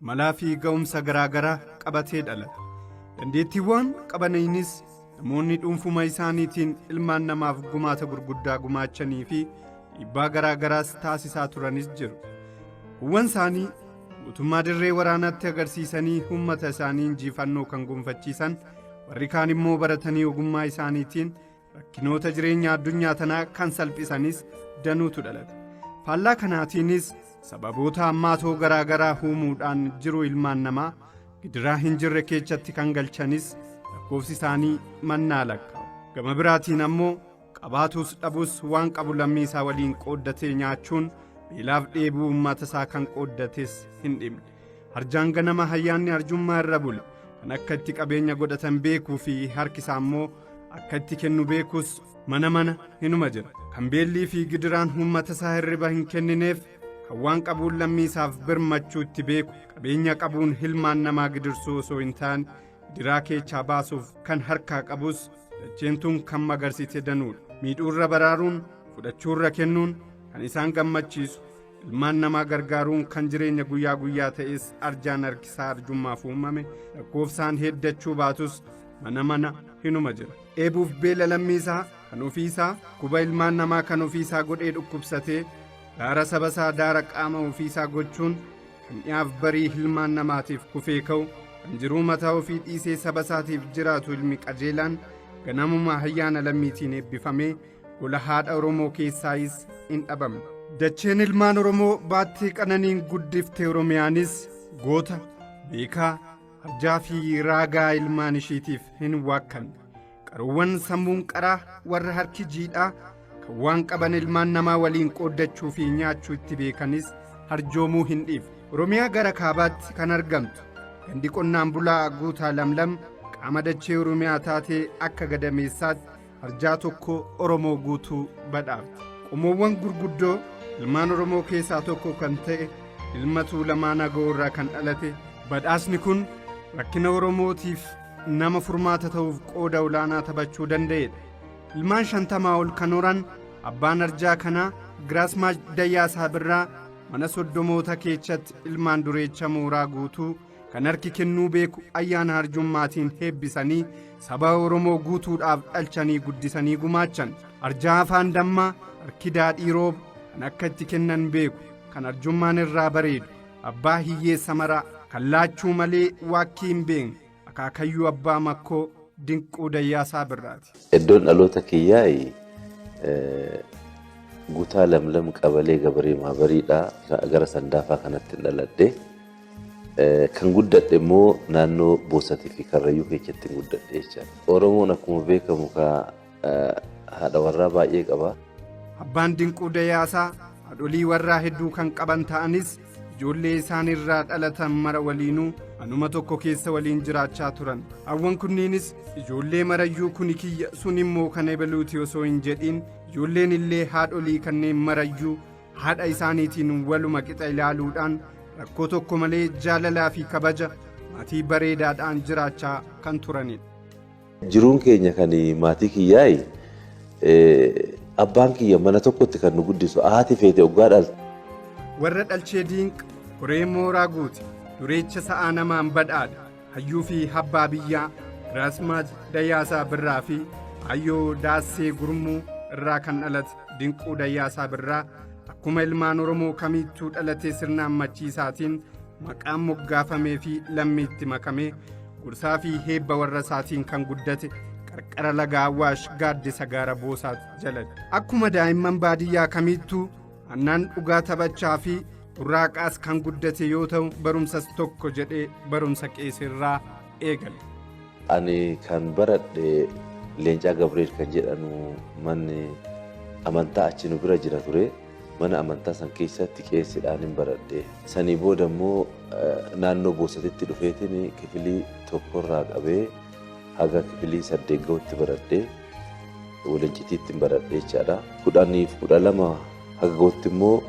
malaa fi ga'umsa garaa garaa qabatee dhalata. Dandeettiiwwan qabanaynis namoonni dhuunfuma isaaniitiin ilmaan namaaf gumaata gurguddaa gumaachanii fi dhiibbaa garaa garaas taasisaa turanis jiru. Kuuwwan isaanii guutummaa dirree waraanaatti agarsiisanii uummata isaanii injiifannoo kan gonfachiisan warri kaan immoo baratanii ogummaa isaaniitiin rakkinoota jireenya addunyaa tanaa kan salphisanis danuutu dhalata faallaa kanaatiinis sababoota hammaatoo garaa garaa uumuudhaan jiruu ilmaan namaa gidiraa hin jirre keessatti kan galchanis lakkoofsi isaanii mannaa lakkaa'u gama biraatiin ammoo qabaatuus dhabuus waan qabu lammii isaa waliin qooddatee nyaachuun beelaaf dheebuu uummata isaa kan qooddates hin dhimne Arjaan ganama hayyaanni arjummaa irra bula. Kan akka itti qabeenya godhatan beekuu fi harki isaa immoo akka itti kennu beekus mana mana hinuma jira. Kan beellii fi gidiraan uummata isaa hirriba hin kennineef kan waan qabuun lammii isaaf birmachuu itti beeku qabeenya qabuun hilmaan namaa gidirsuu osoo hin taane gidiraa keechaa baasuuf kan harkaa qabus dacheen tun kan magarsite danuudha. Miidhuurra baraaruun fudhachuurra kennuun kan isaan gammachiisu Ilmaan namaa gargaaruun kan jireenya guyyaa guyyaa ta'es arjaan harkisaa arjummaaf uumame lakkoofsaan heddachuu baatus mana mana hinuma jira. Dheebuuf beela lammii isaa kan ofii isaa kuba ilmaan namaa kan ofii isaa godhee dhukkubsatee daara saba isaa daara qaama ofii isaa gochuun kan dhiyaaf barii ilmaan namaatiif kufee ka'u kan jiruu mataa ofii dhiisee saba isaatiif jiraatu ilmi qajeelaan ganamuma hayyaana lammiitiin eebbifamee Gola haadha Oromoo keessaayis hin dhabamne. Dacheen ilmaan Oromoo baattii qananiin guddifte Oromiyaanis goota, beekaa, arjaa fi raagaa ilmaan ishiitiif hin waakkanne. Qaruuwwan sammuun qaraa warra harki jiidhaa kan waan qaban ilmaan namaa waliin qooddachuu fi nyaachuu itti beekanis harjoomuu hin dhiifne. Oromiyaa gara kaabaatti kan argamtu gandi qonnaan bulaa guutaa lamlam qaama dachee Oromiyaa taatee akka gadameessaatti arjaa tokko Oromoo guutuu badhaafte. Qomoowwan gurguddoo ilmaan Oromoo keessaa tokko kan ta'e ilma Tuulamaa Nagoo irraa kan dhalate badhaasni kun rakkina Oromootiif nama furmaata ta'uuf qooda olaanaa taphachuu danda'edha. Ilmaan shantamaa ol kan horan abbaan arjaa kanaa Giraasmaach Dayyaasaa Birraa mana soddomoota keessatti ilmaan dureecha mooraa guutuu Kan harki kennuu beeku ayyaana arjummaatiin heebbisanii saba Oromoo guutuudhaaf dhalchanii guddisanii gumaachan. Arjaa afaan dammaa, harki daadhii rooba kan akka itti kennan beeku, kan arjummaan irraa bareedu, abbaa hiyyeessa maraa kan laachuu malee waakkii hin beekne akaakayyuu abbaa makkoo dinquu dayyaasaa birraati. Eddoon dhaloota kiyyaayi gutaa lamlam qabalee gabaree maabariidha gara sandaafaa kanatti dhaladhe. Kan guddadhe immoo naannoo Boosatii fi Karrayyuu keessattin guddadhe jechaadha. Oromoon akkuma beekamu kaa haadha warraa baay'ee qaba. Abbaan Dinquu Dayaasaa haadholii warraa hedduu kan qaban ta'anis ijoollee isaan irraa dhalatan mara waliinuu anuma tokko keessa waliin jiraachaa turan. Haawwan kunniinis ijoollee marayyuu kuni kiyya sun immoo kan ebaluuti osoo hin jedhiin ijoolleen illee haadholii kanneen marayyuu haadha isaaniitiin waluma qixa ilaaluudhaan rakkoo tokko malee jaalalaa fi kabaja maatii bareedaadhaan jiraachaa kan turanidha. Jiruun keenya kan maatii kiyyaayi abbaan kiyya mana tokkotti kan nu guddisu haati feete oggaa dhaltu. Warra dhalchee diinqa horee mooraa guute dureecha sa'aa namaan badhaadha. hayyuu fi habbaa biyyaa Giraasmaaj Dayyaasaa Birraa fi Ayyoo Daassee Gurmuu irraa kan dhalate Dinquu Dayyaasaa Birraa akkuma ilmaan Oromoo kamiittuu dhalatee sirna ammachiisaatiin maqaan moggaafamee fi lammiitti makamee gorsaa fi heebba warra isaatiin kan guddate qarqara laga Awwaash gaaddisa gaara Boosaat jalatti. Akkuma daa'imman baadiyyaa kamiittuu Annaan dhugaa taphachaa fi burraaqaas kan guddate yoo ta'u barumsas tokko jedhee barumsa qeesirraa eegale. Ani kan baradhe Leencaa Gabriel kan jedhanu manni amantaa achi nu bira jira ture. Mana amantaa san keessatti qeessidhaan hin baradhe. Sanii booda immoo naannoo boosatitti dhufeetiin kifilii tokkorraa qabee Haga kifilii saddeet gahutti baradhee walincitiitti baradhee jechaadha. Kudhaniif kudha lama haga gahutti immoo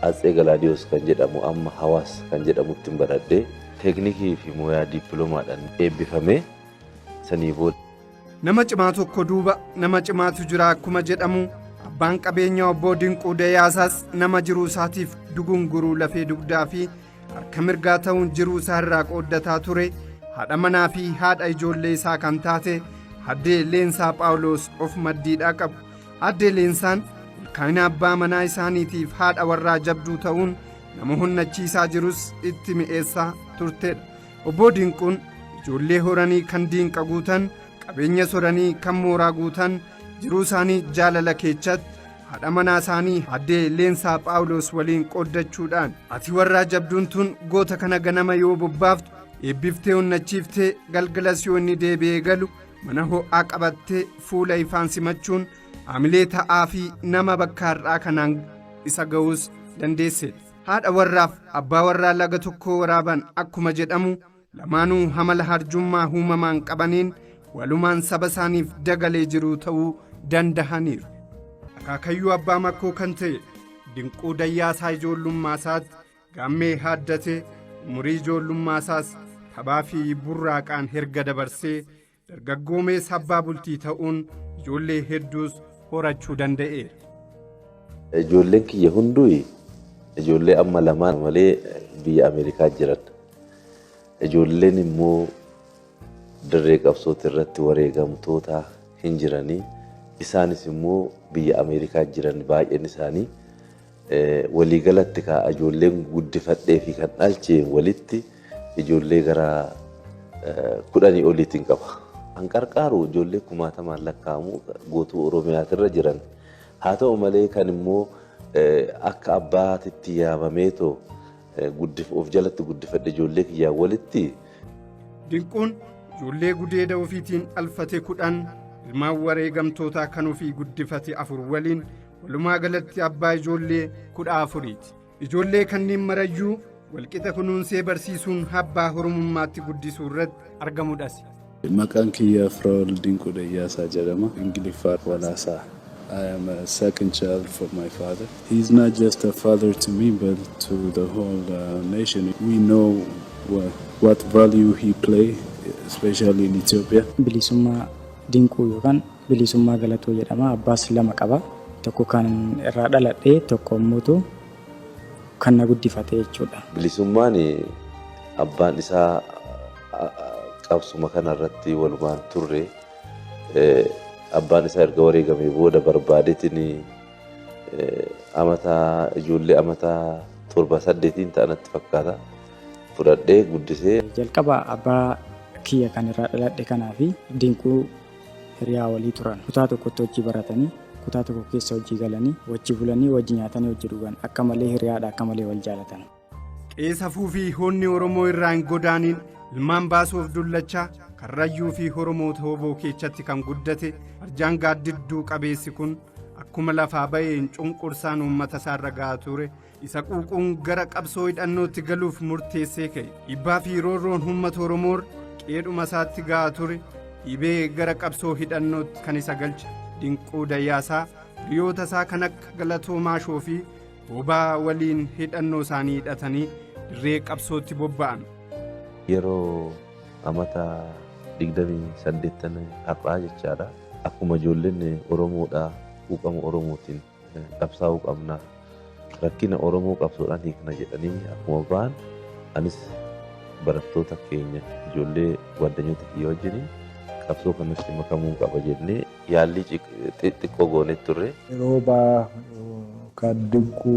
Atsee Galaadiyoos kan jedhamu amma Hawaas kan jedhamutti baradhee teeknikii fi mooyaa diippiloomaadhaan eebbifamee sanii booda. Nama cimaa tokko duuba nama cimaatu jira akkuma jedhamu abbaan qabeenyaa obbo Dinquu Dayaasaas nama jiruu isaatiif dugunguruu lafee dugdaa fi harka mirgaa ta'uun jiruu isaa irraa qooddataa ture haadha manaa fi haadha ijoollee isaa kan taate addee leensaa phaawuloos of maddiidhaa qabu addee leensaan milkaa'ina abbaa manaa isaaniitiif haadha warraa jabduu ta'uun nama honnachiisaa jirus itti mi'eessaa turtedha obbo dinquun ijoollee horanii kan diinqa guutan qabeenya soranii kan mooraa guutan jiruu isaanii jaalala keechatti haadha manaa isaanii addee leensaa phaawulos waliin qooddachuudhaan ati warraa jabduun tun goota kana ganama yoo bobbaaftu eebbiftee onnachiiftee galgalas yoo inni deebi'ee galu mana ho'aa qabattee fuula ifaan simachuun hamilee ta'aa fi nama bakka har'aa kanaan isa ga'uus dandeesseedha haadha warraaf abbaa warraa laga tokkoo waraaban akkuma jedhamu Lamaanuu hamala harjummaa huumamaan qabaniin walumaan saba isaaniif dagalee jiruu ta'uu dandahaniiru. Akaakayyuu abbaa makkoo kan ta'e dinquu dayyaasaa ijoollummaa isaatti gaammee haaddatee umurii ijoollummaa isaas taphaa fi burraaqaan herga dabarsee Dargaggoomees abbaa bultii ta'uun ijoollee hedduus horachuu danda'eera. Ijoolleen kiyya hunduu ijoollee amma lamaan malee biyya Ameerikaa jiran. Ijoolleen immoo dirree qabsooti irratti wareegamtoota hin jiranii. Isaanis immoo biyya Ameerikaa jiran baay'een isaanii Waliigalatti kaa ijoolleen guddifadhee fi kan dhalche walitti ijoollee gara kudhanii oliitiin qaba. An qarqaaru ijoollee kumaatamaan lakkaa'amu guutuu Oromiyaatirra jiran. Haa ta'u malee kan immoo akka abbaatitti yaamameetoo of jalatti guddifadhe ijoollee kiyyaa walitti. Dinquun ijoollee gudeeda ofiitiin dhalfate kudhan ilmaan wareegamtootaa kan ofii guddifate afur waliin walumaa galatti abbaa ijoollee kudha afuriiti ijoollee kanneen marayyuu walqixa kunuunsee barsiisuun abbaa horumummaatti guddisuu irratti argamudhas. Maqaan kiyya Firaa'ol Dinquu Dayyaasaa jedhama. Ingiliffaa Walaasaa. I am a second child for my father. He is not just a father to me, but to the whole uh, nation. We know what, what value he play, especially in Ethiopia. Bilisummaa Dinquu yookaan Bilisummaa Galatoo jedhama. Abbaas lama qaba. Tokko kan irraa dhaladhe, tokko immoo kan na guddifate jechuudha. Bilisummaan abbaan isaa qabsuma kana irratti walumaan turre abbaan isaa erga wareegamee booda barbaadeetiin amata ijoollee amata torba saddeetiin ta'anatti fakkaata fudhadhee guddisee. Jalqaba abbaa kiyya kan irraa dhaladhe kanaa fi dinquu hiriyaa walii turan. Kutaa tokkotti wajji baratanii, kutaa tokko keessa wajji galanii, wajji bulanii, wajji nyaatanii wajji dhugan. Akka malee hiriyaadha, akka malee wal jaalatan. Qe'ee safuu fi hoonni Oromoo irraa hin godaaniin ilmaan baasuuf dullachaa karrayyuu fi Oromoo tooboo keechatti kan guddate arjaan gaaddidduu qabeessi kun akkuma lafaa ba'een cunqursaan uummata isaarra ga'aa ture isa quuquun gara qabsoo hidhannootti galuuf murteessee ka'e dhibbaa fi roorroon uummata oromoor qeedhuma isaatti ga'aa ture dhibee gara qabsoo hidhannootti kan isa galche dinquu dayyaasaa hiriyoota isaa kan akka galatoo maashoo fi bobaa waliin hidhannoo isaanii hidhatanii dirree qabsootti bobba'an. yeroo amata 28 har'aa jechaadha akkuma ijoolleen oromoodha quuqama oromootiin qabsaa'uu qabna rakkina oromoo qabsoodhaan hiikna jedhanii akkuma ba'an anis barattoota keenya ijoollee waddanyoota kiyya wajjiniin qabsoo kanatti makamuun qaba jennee yaallii xiqqoo goonee turre. Yeroo ba'aa kan dinquu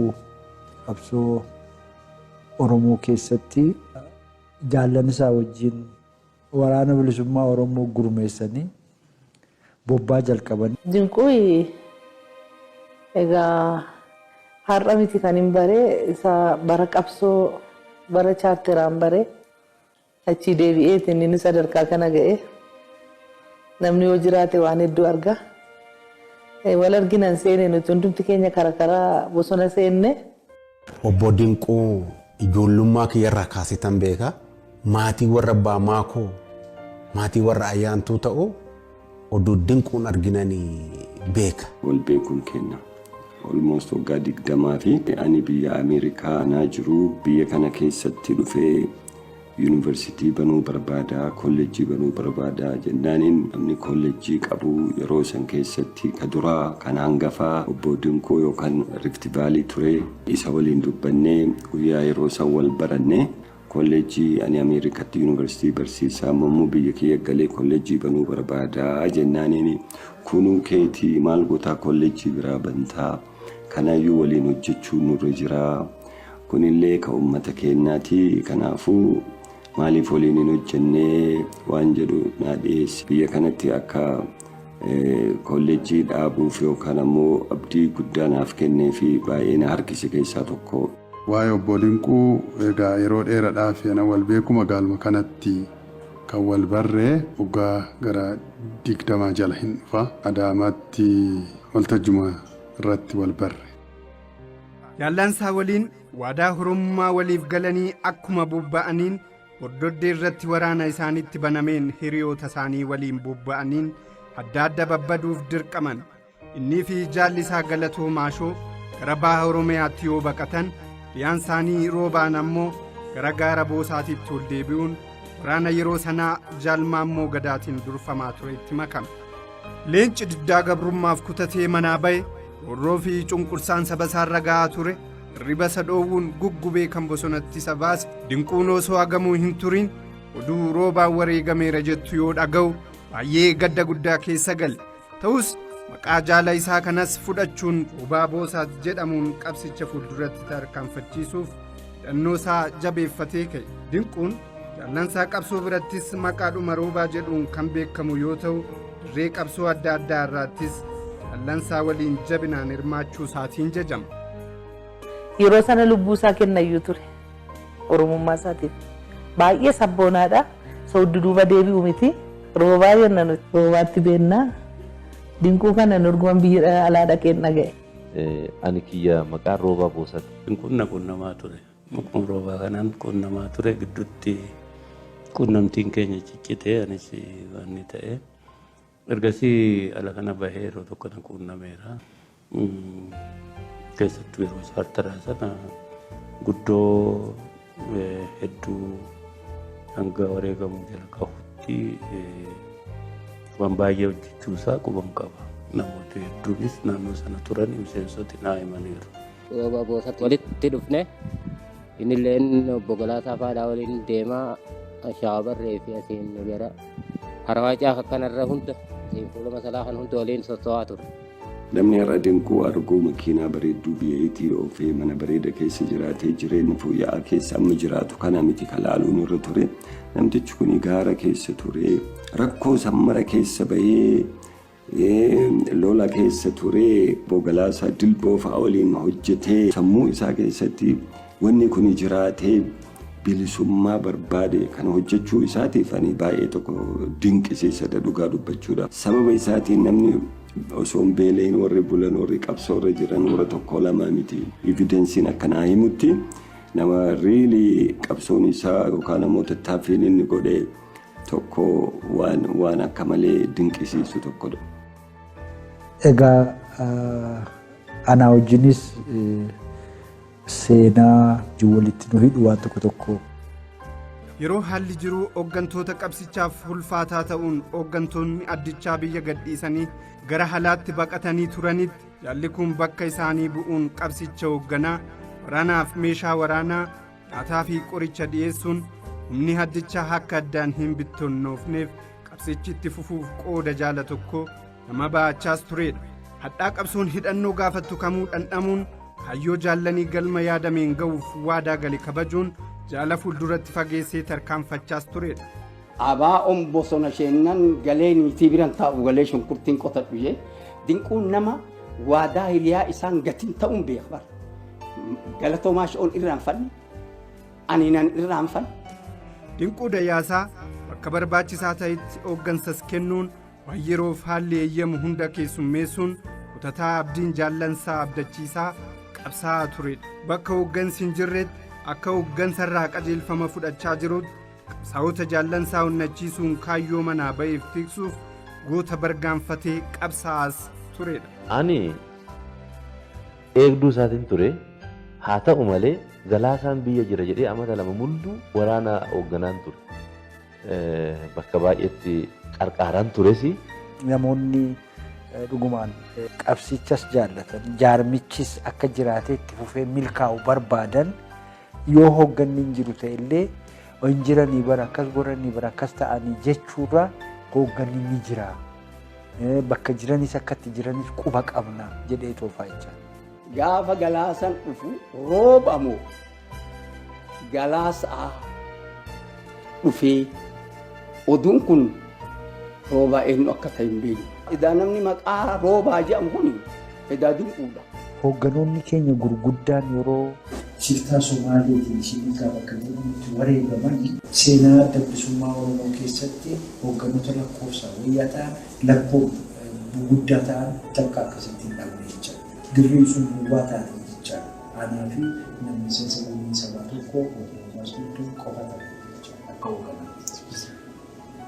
qabsoo Oromoo keessatti jaallan isaa wajjin waraana bilisummaa Oromoo gurmeessanii bobbaa jalqaban. Dinquuyi egaa har'a miti kanin bare isa bara qabsoo bara chaarteraan bare achii deebi'eeti inni sadarkaa kana ga'e. Namni yoo jiraate waan hedduu arga. Wal arginan seene nuti hundumti keenya kara karaa bosona seenne. Obbo Dinquu ijoollummaa kiyyarraa kaaseetan beeka. Maatii warra abbaa maakoo, maatii warra ayyaantuu ta'uu oduu dinquun arginani beeka. Wal beekuun keenna almost waggaa digdamaafi. Ani biyya Ameerikaa anaa jiruu biyya kana keessatti dhufee. Yuunivarsiitii banuu barbaadaa, kollejjii banuu barbaadaa jennaaniin namni kollejjii qabu yeroo san keessatti ka duraa kan hangafaa obbo Dinquu yookaan Rift Valley ture. Isa waliin dubbannee guyyaa yeroo san wal baranne kollejjii ani Ameerikatti yuunivarsiitii barsiisaa amma immoo biyya kiyya galee kollejjii banuu barbaadaa jennaaniin kunuu keeti maal gotaa kollejjii biraa bantaa kanaayyuu waliin hojjechuun nurra jiraa Kunillee ka ummata keennaati. Kanaafuu maaliif waliin hin hojjenne waan jedhu naa dhiyeessi. Biyya kanatti akka Koolleejjii dhaabuuf yookaan ammoo abdii guddaa naaf kennee fi baay'ee na harkise keessaa tokko. Waa'ee Obboo Dinquu egaa yeroo dheeradhaaf ana wal beeku magaaluma kanatti kan wal barre waggaa gara digdamaa jala hin dhufa. Adaamaatti waltajjuma irratti wal barre. Daallansaa waliin waadaa horummaa waliif galanii akkuma bobba'aniin hordoddee irratti waraana isaanitti banameen hiriyoota isaanii waliin bobba'aniin adda adda babbaduuf dirqaman innii fi jaalli isaa galatoo maashoo gara baha oromiyaatti yoo baqatan dhiyaan isaanii roobaan ammoo gara gaara boosaatiitti ol deebi'uun waraana yeroo sanaa jaalmaammoo gadaatiin durfamaa turetti makame. Leenci diddaa gabrummaaf kutatee manaa ba'e roorroo fi cunqursaan saba isaarra ga'aa ture hirriba isa dhoowwuun guggubee kan bosonatti isa baase dinquun osoo agamuu hin turiin oduu roobaan wareegameera jettu yoo dhaga'u baay'ee gadda guddaa keessa gale ta'us maqaa jaala isaa kanas fudhachuun roobaa boosaat jedhamuun qabsicha fuulduratti tarkaanfachiisuuf hidhannoo isaa jabeeffatee ka'e dinquun jaallansaa qabsoo birattis maqaadhuma roobaa jedhuun kan beekamu yoo ta'u dirree qabsoo adda addaa irraattis jaallansaa waliin jabinaan hirmaachuu isaatiin jajama. Yeroo sana lubbuu isaa kennayyuu ture oromummaa isaatiif baay'ee sabboonaadha sooddu duuba deebi'u miti roobaa jenna nuti roobaatti beennaa dinquu kana nurguman biyya alaa dhaqeen dhaga'e. Ani kiyya maqaan Roobaa Boosat. Hin qunna qunnamaa ture. Maqaan Roobaa kanaan qunnamaa ture gidduutti qunnamtiin keenya ciccitee anis waan ta'e. Ergasii ala kana bahee yeroo tokko na quunnameera. Keessattuu yeroo chaartaraa sana guddoo hedduu hanga wareegamu jala qabutti waan baay'ee hojjechuu isaa quban qaba. Namoota hedduunis naannoo sana turan miseensoti naa himaniiru. Yeroo boosatti walitti dhufne innilleen obbo Galaasaa Faadhaa waliin deemaa shaabarree fi asiin gara harawaacaa kanarra hunda fuula masalaa kan hunda waliin sossoo'aa ture. Namni har'a dinquu arguu makiinaa bareedduu biyyaytii oofee mana bareeda keessa jiraatee jireenya fooyya'aa keessa amma jiraatu kana miti ka laaluun irra ture. Namtichi kun gaara keessa ture. Rakkoo sammara keessa bahee lola keessa ture. Bogalaasaa dilboo fa'a waliin hojjetee sammuu isaa keessatti Wanni kuni jiraatee bilisummaa barbaade kana hojjechuu isaatiif ani baay'ee tokko dinqisiisadha dhugaa dubbachuudha. Sababa isaatiin namni osoo hin beelayin warri bulan warri qabsoo irra jiran warra tokko lamaa miti. Evidensiin akka naa himutti nama riilii qabsoon isaa yookaan ammoo tattaaffiin inni godhe tokko waan waan akka malee dinqisiisu tokkodha. Egaa anaa wajjinis Seenaa ijoo walitti nu hidhu waan tokko tokko. Yeroo haalli jiruu hooggantoota qabsichaaf ulfaataa ta'uun hooggantoonni addichaa biyya gadhiisanii gara halaatti baqatanii turanitti jaalli kun bakka isaanii bu'uun qabsicha hoogganaa waraanaaf meeshaa waraanaa nyaataa fi qoricha dhiyeessuun humni addichaa akka addaan hin bittonnoofneef qabsichi itti fufuuf qooda jaala tokko Nama ba'achaas tureedha. Hadhaa qabsoon hidhannoo gaafattu kamuu dhandhamuun kaayyoo jaallanii galma yaadameen ga'uuf waadaa gale kabajuun jaala fuulduratti fageessee tarkaanfachaas tureedha. Abaa'oon bosona sheennan galee niitii biran taa'u galee shunkurtiin qotadhu jee dinquun nama waadaa hiliyaa isaan gatiin ta'uun beeka bara. Galatoomaa shi'oon irraanfanne aniinan irraanfanne. Dinquu Dayyaasaa bakka barbaachisaa ta'etti hooggansas kennuun Waan yeroof haalli eeyyamu hunda keessummeessuun kutataa abdiin jaallansaa abdachiisaa qabsaa'aa turedha. Bakka hooggansi hin jirretti akka hooggansarraa qajeelfama fudhachaa jirutti qabsaa'ota jaallansaa onnachiisuun kaayyoo manaa ba'eef tiksuuf goota bargaanfatee qabsaa'aas turedha. Ani eegduu isaatiin ture haa ta'u malee galaasaan biyya jira jedhee amata lama mul'uu waraana hoogganaan ture. Bakka baay'eetti qarqaaraan tures. Namoonni dhugumaan qabsichas jaallatan jaarmichis akka jiraatee itti fufee milkaa'u barbaadan yoo hoogganni hin jiru ta'e illee hin jiranii bara akkas godhanii bara akkas ta'anii jechuurraa hoogganni ni jira. Bakka jiranis akka itti jiranis quba qabna jedhee toofaa jecha. Gaafa galaasan dhufu rooba moo Galaasaa dhufee oduun kun roobaa eenyu akka ta'e hin beekne. Edaa namni maqaa roobaa jedhamu kun edaa dinquudha. Hoogganoonni keenya gurguddaan yeroo. shiftaa Somaaleetiin Shiniikaa bakka jedhamutti wareegaman. Seenaa Adda Bilisummaa Oromoo keessatti hoogganoota lakkoofsaan wayyaa ta'an lakkoof guguddaa ta'an takka akkasitti hin dhabne jechaadha. Dirreen sun duwwaa taate jechaadha. Anaa fi nama miseensa gumii sabaa tokkoo yookiin barsiiftuu qofa taane jecha akka hoogganaatti.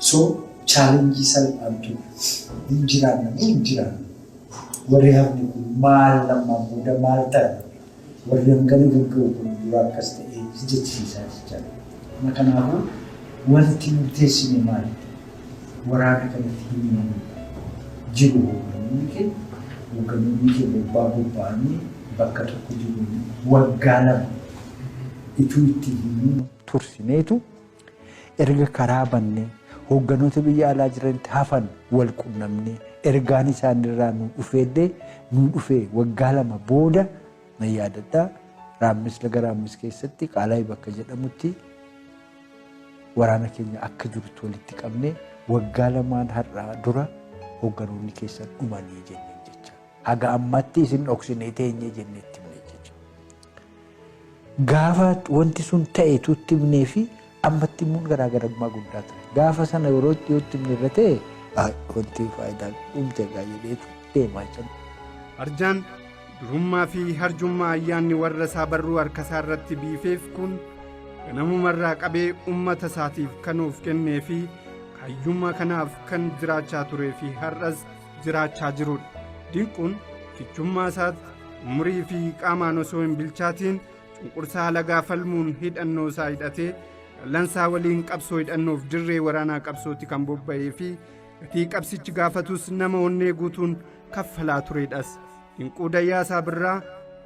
So challenge salphaan ture. Hin jiraanna moo hin jiraanna? Warri hafne kun maal ammaa booda maal taana? Warri hangana gagga'u kun dura akkas ta'ee si jechisiisaa jechaa. Kanaafuu wanti murteessine maali? waraana kanatti hin himamu jiru hoogganonni kee hoogganonni kee bobbaa bobba'anii bakka tokko jiru waggaa lama ituu itti himuu tursineetu erga karaa bannee hoogganoota biyya alaa jiranitti hafan wal qunnamnee ergaan isaanirraa nu dhufeellee nu dhufee waggaa lama booda na yaadadha raammis laga raammis keessatti qaalaayi bakka jedhamutti Waraana keenya akka jirutti walitti qabnee waggaa lamaan har'aa dura hoogganoonni keessan dhumanii jenneen jecha. Haga ammaatti isin dhoksinee teenyee jennee itti himne jecha. Gaafa wanti sun ta'e tuutti himnee fi ammatti immoo garaagarummaa guddaa ture. Gaafa sana yeroo itti yoo itti himne irra ta'e wanti faayidaa dhumte egaa jedheetu deemaa jira. Arjaan Durummaa fi harjummaa ayyaanni warra isaa barruu harka isaa irratti biifeef kun ganamuma irraa qabee ummata isaatiif kan of kennee fi kayyummaa kanaaf kan jiraachaa turee fi har'as jiraachaa jirudha. Dinquun kichummaa isaatti umurii fi qaamaan osoo hin bilchaatiin cunqursaa halagaa falmuun hidhannoo isaa hidhatee dhallansaa waliin qabsoo hidhannoof dirree waraanaa qabsootti kan bobba'ee fi gatii qabsichi gaafatus nama onnee guutuun kaffalaa tureedhas dinquu dayyaasaa birraa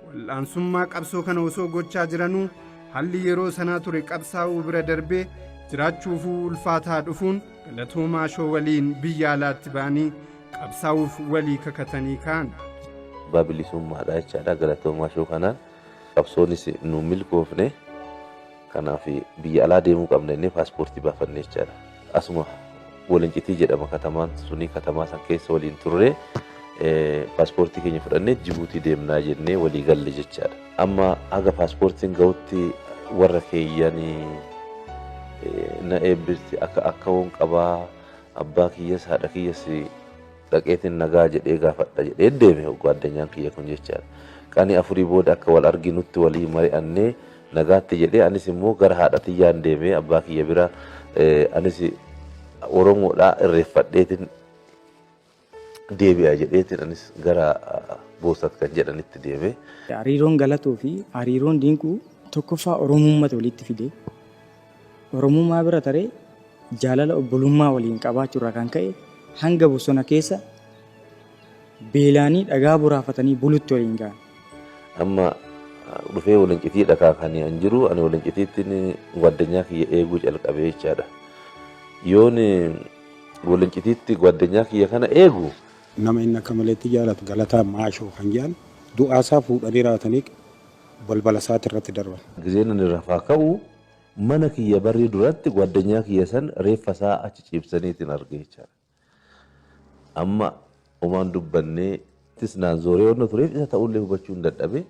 wal'aansummaa qabsoo kana osoo gochaa jiranuu haalli yeroo sanaa ture qabsaa'uu bira darbee jiraachuufuu ulfaataa dhufuun galatoomaa shoo waliin biyya alaatti ba'anii qabsaa'uuf walii kakatanii ka'an. abbaa bilisummaadha jechaadha galatoomaa shoo kanaan qabsoonis nu milkoofne. Kanaaf biyya alaa deemuu qabna jennee paaspoortii baafanne jechaadha. Asuma Walincitii jedhama katamaan suni katamaa san keessa waliin turre paaspoortii keenya fudhannee Jibuutii deemnaa jennee walii galle jechaadha. Amma haga paaspoortiin ga'utti warra keeyyanii na eebbisi akka akka woon qabaa abbaa kiyyas haadha kiyyas dhaqeetiin nagaa jedhee gaafadha jedhee deeme hogguu addunyaan kiyya kun jechaadha. Qanii afurii booda akka wal arginutti walii mari'annee nagaatti jedhee anis immoo gara haadha tiyyaan deemee abbaa kiyya bira anis Oromoodhaa irreeffadheetiin deebi'a jedheetiin anis gara boosat kan jedhanitti deeme. Hariiroon galatuu fi hariiroon dinquu tokkoffaa Oromummaa walitti fidee Oromummaa bira taree jaalala obbolummaa waliin qabaachuu irraa kan ka'e hanga bosona keessa beelaanii dhagaa boraafatanii bulutti waliin ga'an. Amma dhufee walincitii dhakaa kan an jiru ani walincitiittiin gwaaddanyaa kiyya eeguu calqabee jechaadha. Yoon walincitiitti gwaaddanyaa kiyya kana eegu. Nama inni akka maleetti jaalatu Galataa Maashoo kan jedhan du'aa isaa fuudhanii raatanii balbala isaati irratti darban. Gizeen ani rafaa ka'u Mana kiyya barii duratti gwaddanyaa kiyya san reeffa isaa achi ciibsaniitin arge jechaadha. Amma omaan dubbanne. Attis naan zooree wanna tureef isa ta'ullee hubachuun dadhabe.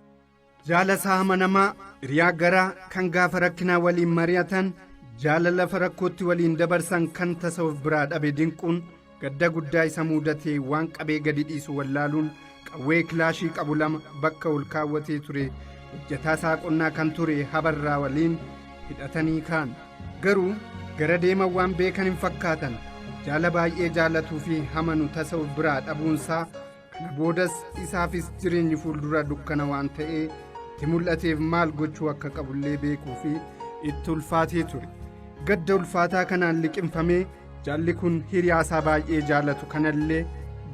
Jaalasaa amanamaa, hiriyaa garaa, kan gaafa rakkinaa waliin mari'atan, jaalala lafa rakkootti waliin dabarsan kan tasa of biraa dhabe dinquun, Gadda guddaa isa muudate waan qabee gadi dhiisu wallaaluun qawwee kilaashii qabu lama bakka ol kaawwatee ture hojjataa isaa qonnaa kan ture habarraa waliin hidhatanii kaan garuu gara deeman waan beekan hin fakkaatan jaala baay'ee jaalatuu fi hamanu tasa of biraa dhabuunsaa kana boodas isaafis jireenyi fuuldura dukkana waan ta'ee itti mul'ateef maal gochuu akka qabullee beekuu fi itti ulfaatee ture gadda ulfaataa kanaan liqimfamee jaalli kun hiriyaasaa baay'ee jaalatu kanallee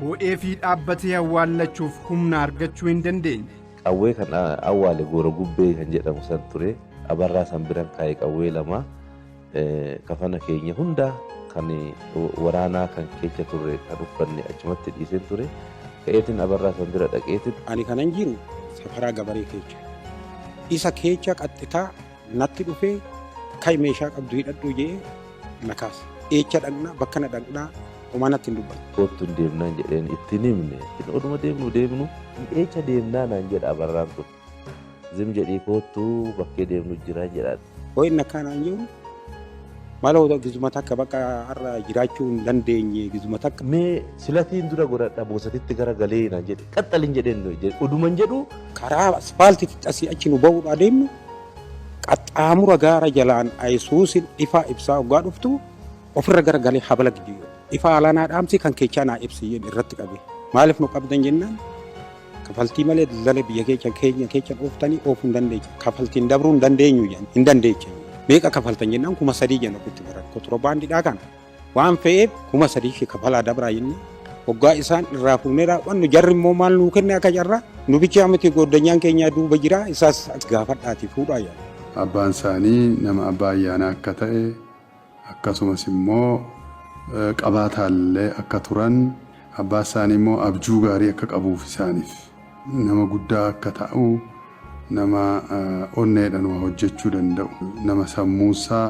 boo'ee fi dhaabbatee awwaallachuuf humna argachuu hin dandeenye. qawwee kan awwaale goora gubbee kan jedhamu san ture abarraa san biran kaa'e qawwee lama Kafana keenya hunda kan waraanaa kan keecha turre kan uffanne achumatti dhiiseen ture. Ka'eetiin abarraa san bira dhaqeetiin. Ani kanan jiru safaraa gabaree keecha. Isa keecha qaxxitaa natti dhufee ka'i meeshaa qabdu hidhadhu jee na kaase. Eecha dhaqnaa bakka na dhaqnaa homaa natti hin dubbanne. Koottu hin deemnaan jedheen itti hin himne. Oduma deemnu deemnu eecha deemnaa naan jedha abarraan kun. Zim jedhii koottu bakkee deemnu jira jedhaan. Ho'inni akkanaan jiru mala hota gizuma takka bakka har'a jiraachuu hin dandeenye gizuma takka. Mee silatiin dura godhadha boosatitti gara galee naan jedhe qaxxalin jedheen oduman jedhu. Karaa aspaaltiitti asii achi nu ba'uudhaa deemnu qaxxaamura gaara jalaan Yesuusin ifaa ibsaa hoggaa dhuftu ofirra gara galee habala gidduu ifaa alaa naa dhaamsi kan keechaa naa ibsi jedhe irratti qabe maaliif nu qabdan jennaan Kafaltii malee daldala biyya keecha keenya keecha dhooftanii oofuu hin dandeecha. Kafaltiin dabruu hin dandeenyu jedhan. Hin dandeecha. Meeqa kafaltan jennaan kuma sadii jenna ofitti baran. Kotirobaandiidhaa kana. Waan fe'eef kuma sadii fi kafalaa dabraa jennee hoggaa isaan irraa fuunee raawwannu jarri immoo maal nuu kenne akka carraa nu bichaa miti gooddanyaan keenyaa duuba jira isaas gaafadhaatii fuudhaa jedhan. Abbaan isaanii nama abbaa ayyaanaa akka ta'e akkasumas immoo qabaataa illee akka turan, abbaa isaanii immoo abjuu gaarii akka qabuu fi isaaniif nama guddaa akka ta'u, nama onneedhaan waa hojjechuu danda'u, nama sammuu isaa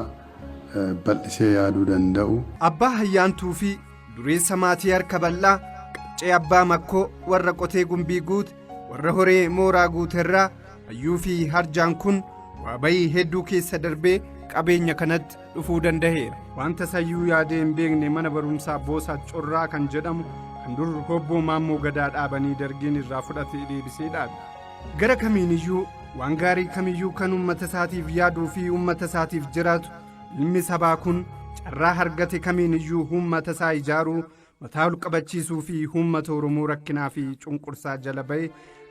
bal'isee yaaduu danda'u. Abbaa Ayyaantuu fi dureessa maatii harka bal'aa, qaccee abbaa Makkoo, warra qotee Gumbii Guut, warra horee mooraa guuterraa hayyuu fi harjaan kun waa bayii hedduu keessa darbee qabeenya kanatti dhufuu danda'eera wanta sayyuu yaadee hin beekne mana barumsaa boosaa corraa kan jedhamu kan dur hobboo maammoo gadaa dhaabanii dargiin irraa fudhatee deebisee dhaabe gara kamiiniyyuu waan gaarii kamiyyuu kan uummata isaatiif yaaduu fi uummata isaatiif jiraatu ilmi sabaa kun carraa hargate kamiiniyyuu uummata isaa ijaaruu Mataa ol qabachiisuu fi uummata Oromoo rakkinaa fi cunqursaa jala ba'e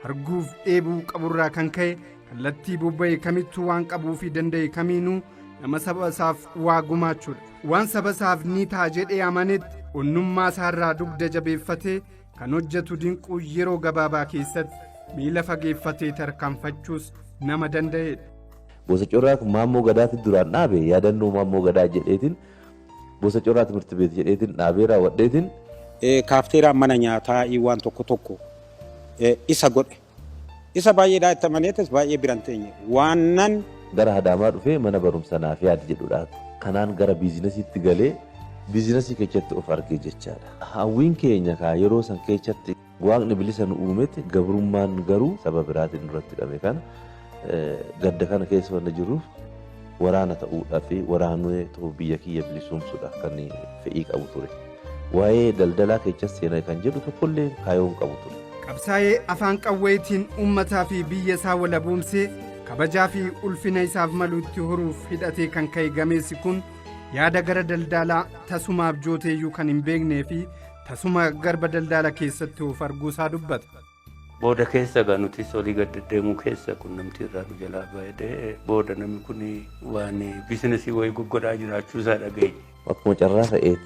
arguuf dheebuu qaburraa kan ka'e kallattii bobba'e kamittuu waan qabuu fi danda'e kamiinuu nama saba isaaf waa gumaachuudha. Waan saba isaaf ni ta'a jedhee amanetti onnummaa isaarraa dugda jabeeffatee kan hojjetu dinquu yeroo gabaabaa keessatti miila fageeffatee tarkaanfachuus nama danda'edha. Gosa Corraa kun Maammoo Gadaatti duraan dhaabe yaadannoo Maammoo Gadaa jedheetiin Gosa coraa timirti beet jedheetin dhaabee raawwadheetin. Kaafteeraan mana nyaataa i waan tokko tokko isa godhe. Isa baay'eedhaa itti amaneetis baay'ee biran teenye. Waannan. Gara Hadaamaa dhufee mana barumsa naaf yaadi jedhudhaa. Kanaan gara biizinasiitti galee biizinasii kechatti of arge jechaadha. Hawwiin keenya kaa yeroo san kechatti. Waaqni bilisa nu uumetti gabrummaan garuu saba biraatiin nurratti hidhame kana gadda kana keessa wanna jiruuf waraana ta'uudhaa fi waraanee ta'uu biyya kiyya bilisuumsuudhaaf kan fedhii qabu ture. Waa'ee daldalaa kechas seenaa kan jedhu tokkollee kaayoon qabu ture. Qabsaa'ee afaan qawweetiin uummataa fi biyya isaa walaboomsee kabajaa fi ulfina isaaf maluutti horuuf hidhatee kan ka'e gameessi kun yaada gara daldalaa tasumaaf jooteeyyuu kan hin beeknee fi Tasuma garba daldaala keessatti of arguu isaa dubbata. Booda keessa egaa nutis olii gad deddeemuu keessa qunnamtii irraa nu jalaa baay'ee booda namni kun waan biizinasii wayii goggodhaa jiraachuu isaa dhageenye. Akkuma carraa ta'eet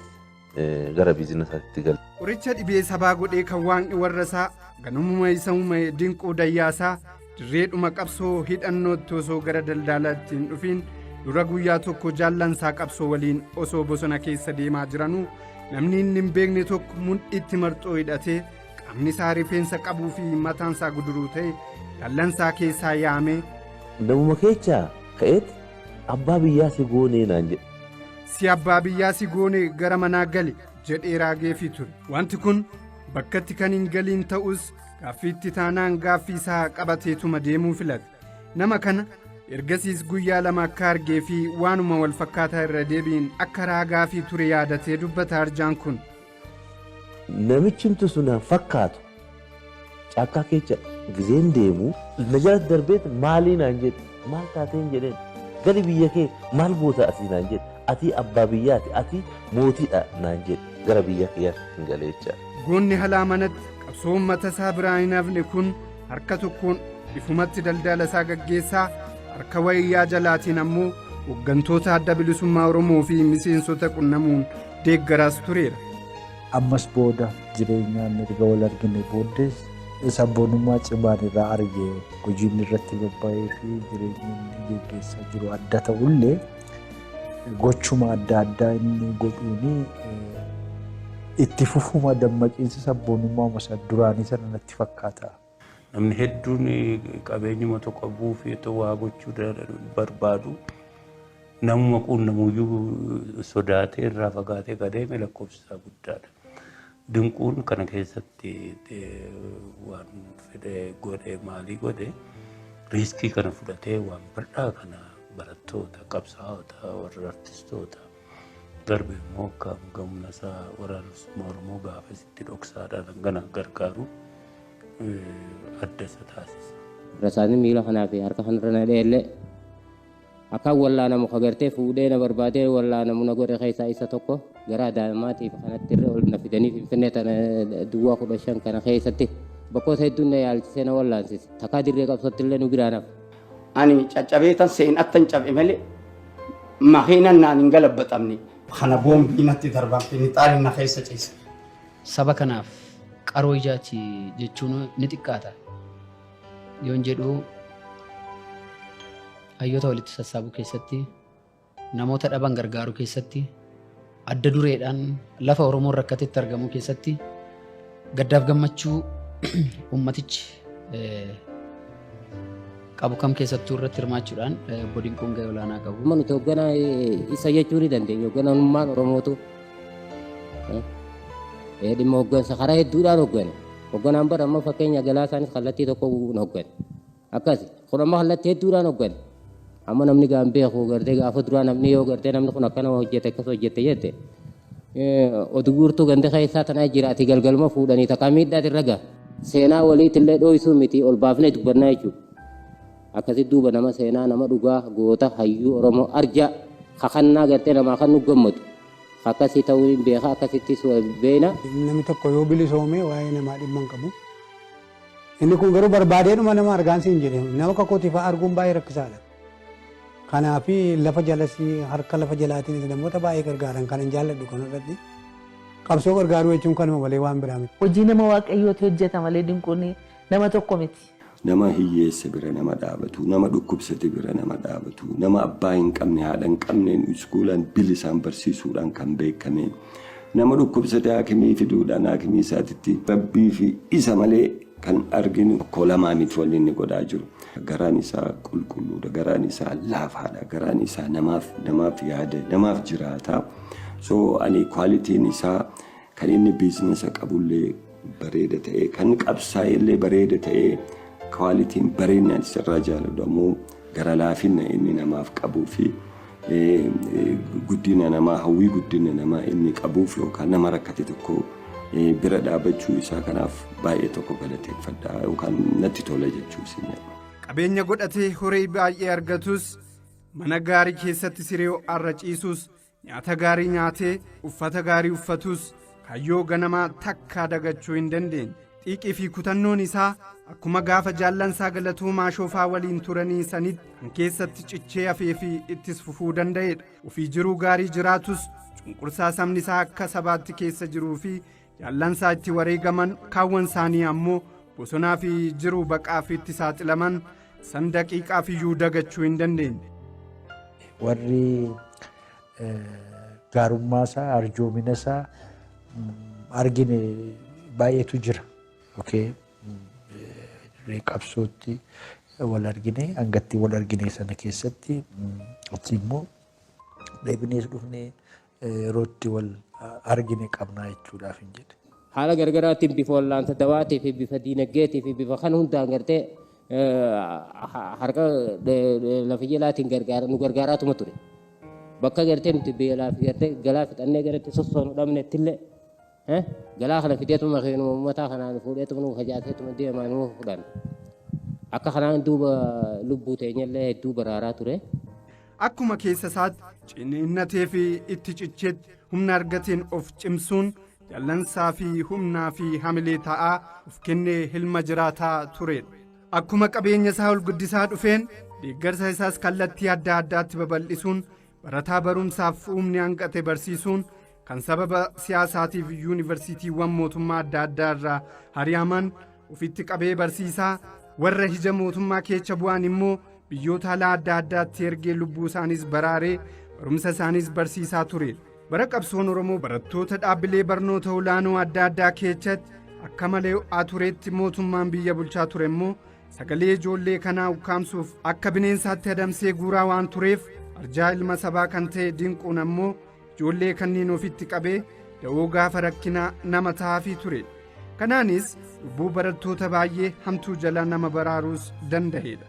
gara biizinasaatti gale. Qoricha dhibee sabaa godhee kan waaqni warra isaa ganamuma isa uume dinquu dayyaasaa Dirreedhuma qabsoo hidhannootti osoo gara daldaalaatti hin dhufiin dura guyyaa tokko jaallansaa qabsoo waliin osoo bosona keessa deemaa jiranuu namni inni hin beekne tokko mudhiitti marxoo hidhatee qaamni isaa rifeensa qabuu fi mataan isaa guduruu ta'e dallansaa keessaa yaamee Namuma keechaa ka'eet abbaa biyyaa si goonee naan jedhe. si abbaa biyyaa si goone gara manaa gali jedhee raageefii ture wanti kun bakkatti kan hin galiin ta'us Gaaffiitti taanaan gaaffii isaa qabateetuma deemuu filate. Nama kana ergasiis guyyaa lama akka argee fi waanuma wal fakkaataa irra deebiin akka raagaa fi ture yaadatee dubbata arjaan kun. Namichi himtu sun hin fakkaatu. Caakkaa keessa gizeen deemu na jalatti darbeet maalii naan jedhe. Maal taateen jedheen. Gali biyya kee maal goota asii naan jedhe. Atii abbaa biyyaati atii mootiidha naan jedhe. Gara biyya kiyyaatti hin galee jecha. Goonni halaa manatti qabsoo uummata isaa biraa hin hafne kun harka tokkoon ifumatti daldala isaa gaggeessaa harka wayyaa jalaatiin ammoo hooggantoota adda bilisummaa Oromoo fi miseensota qunnamuun deeggaraas tureera. Ammas booda jireenyaan erga wal arginee booddees sabboonummaa cimaan irraa arge. Hojiin irratti bobba'ee fi jireenyi inni geggeessaa jiru adda ta'ullee gochuma adda addaa inni godhuuni itti fufuma dammaqiinsa sabboonummaa masa duraanii sana natti fakkaata. Namni hedduun qabeenyuma tokko qabuuf itti waa gochuu barbaadu. Namuma quunnamuyyuu sodaatee irraa fagaatee gadeeme lakkoofsi isaa guddaadha. Dinquun kana keessatti waan fedhe godhe maalii godhe riiskii kana fudhatee waan bal'aa kana barattoota qabsaa'ota warra artistoota darbe immoo akka hanga humna isaa waraanummaa Oromoo gaafa isitti dhoksaadhaan hangana gargaaru eh, adda isa taasisa. Rasaasni miila kanaa fi harka kanarra na dheellee akkaan wallaanamu ka gartee fuudhee na barbaadee wallaanamu na godhe keessaa isa tokko garaa daa'immaatiif kanatti irra ol na fidanii finfinnee tana duwwaa kudha shan kana keessatti bakkoota hedduun na yaalchisee na wallaansise takkaa dirree qabsootti illee nu biraan hafe. Ani caccabeetan seen attan cab'e malee makiinan naan hin galabbaxamne. Kana boombii natti darban finixaaliin na keessa ciise. Saba kanaaf qaroo ijaati jechuun ni xiqqaata. Yoon jedhu hayyoota walitti sassaabuu keessatti Namoota dhaban gargaaruu keessatti, adda dureedhaan lafa Oromoon rakkatetti argamuu keessatti gaddaaf gammachuu ummatichi eh, qabu kam keessattuu irratti hirmaachuudhaan eh, obbo Dinquun gahee olaanaa qabu. Amma nuti hoogganaa eh, isa jechuu ni dandeenya. Hoogganamummaan Oromootu eh, eh, dhimma hooggansa karaa hedduudhaan hooggane. Hoogganaan bara amma fakkeenya galaa isaanis kallattii tokko hin hooggane. akkasi kun amma kallattii hedduudhaan hoggane amma namni gaa hin beeku gartee gaafa duraa namni yoo gartee namni kun akkana hojjete akkas hojjete jette oduu guurtuu ganda keessaa tanaa jira ati galgaluma fuudhanii takkaa miidhaati irra gaa seenaa waliitti illee dhooysuu miti ol baafnee dubbannaa jechuudha akkasi duuba nama seenaa nama dhugaa goota hayyuu oromoo arjaa kakannaa gartee namaa kan nu gammadu akkasi ta'uu hin beeka akkasittis beena. Namni tokko yoo bilisoome waa'ee namaa dhimma hin qabu. Inni kun garuu barbaadeedhuma nama argaan siin jedhe nama akka kootii fa'aa arguun baay'ee rakkisaadha. Kanaaf lafa jalas harka lafa jalaatiinis namoota baay'ee gargaaran kanan jaalladhu kanarratti qabsoo gargaaruu jechuun kanuma malee waan biraa miti. Hojii nama Waaqayyooti hojjeta malee Dinquun nama tokko miti. Nama hiyyeessa bira nama dhaabatu, nama dhukkubsate bira nama dhaabatu, nama abbaa hin qabne, haadha hin qabneen iskuulaan bilisaan barsiisuudhaan kan beekame, Nama dhukkubsate haakimii fiduudhaan haakimii isaatitti Rabbii fi isa malee kan arginu tokko lamaa miti wanni inni godhaa jiru. Garaan isaa qulqulluudha, garaan isaa laafaadha, garaan isaa namaaf namaaf yaada, namaaf jiraata. So ani kwaalitiin isaa kan inni biizinasa qabullee bareeda ta'ee kan qabsaa'e illee bareeda ta'ee kwaalitiin bareedni ani sirraa jaaladhu ammoo gara laafinna inni namaaf qabuu fi guddina namaa hawwii guddina namaa inni qabuuf yookaan nama rakkate tokko bira dhaabachuu isaa kanaaf baay'ee tokko galateeffadha yookaan natti tola jechuu isin Qabeenya godhatee horii baay'ee argatus mana gaarii keessatti siree ho'aarra ciisus Nyaata gaarii nyaatee uffata gaarii uffatuus kayyoo ganamaa takkaa dagachuu hin dandeenye. Xiiqii fi kutannoon isaa akkuma gaafa jaallansaa galatuu maashoofaa waliin turanii sanitti kan keessatti cichee hafee fi ittis fufuu danda'edha. Ofii jiruu gaarii jiraatus cunqursaa sabni isaa akka sabaatti keessa jiruu fi Jaallansaa itti wareegaman kaawwan isaanii ammoo bosonaa fi jiruu baqaaf itti saaxilaman san daqiiqaaf iyyuu dagachuu hin dandeenye. Warri gaarummaa isaa arjoomina isaa argine baay'eetu jira. Dirree qabsootti wal argine hangattii wal argine sana keessatti achi immoo deebinees dhufne yerootti wal argine qabnaa jechuudhaaf hin jedhe. Haala gargaraatiin bifa wallaansa dawaatii fi bifa diinagdeetii fi bifa kan hundaan gartee harka lafa jalaatiin gargaara nu gargaaraatuma ture. Bakka gartee nuti beelaa fi gartee galaa fixannee garatti sossoonu dhabnetti illee He jalaa kana fideetuma keenuma ummataa kanaan fuudheetuma nuu fajaateetuma deemaa nuu fudhan. Akka kanaan duuba lubbuu teenyallee hedduu baraaraa ture. Akkuma keessa isaatti ciniinnatee fi itti cicheetti humna argateen of cimsuun dallansaa fi humnaa fi hamilee ta'aa of kennee hilma jiraataa turedha. Akkuma qabeenya isaa ol guddisaa dhufeen deeggarsa isaas kallattii adda addaatti babal'isuun Barataa barumsaaf uumni hanqate barsiisuun kan sababa siyaasaatiif yuunivarsiitiiwwan mootummaa adda addaa irraa hari'aman ofitti qabee barsiisaa warra hija mootummaa keecha bu'an immoo biyyoota alaa adda addaatti ergee lubbuu isaaniis baraaree barumsa isaaniis barsiisaa ture. Bara qabsoon Oromoo barattoota dhaabbilee barnoota olaanoo adda addaa keechatti akka malee ho'aa turetti mootummaan biyya bulchaa ture immoo Sagalee ijoollee kanaa ukkaamsuuf akka bineensaatti adamsee guuraa waan tureef arjaa ilma sabaa kan ta'e dinquun ammoo ijoollee kanneen ofitti qabee da'oo gaafa rakkinaa nama ta'aafii ture. Kanaanis lubbuu barattoota baay'ee hamtuu jala nama baraaruus danda'eedha.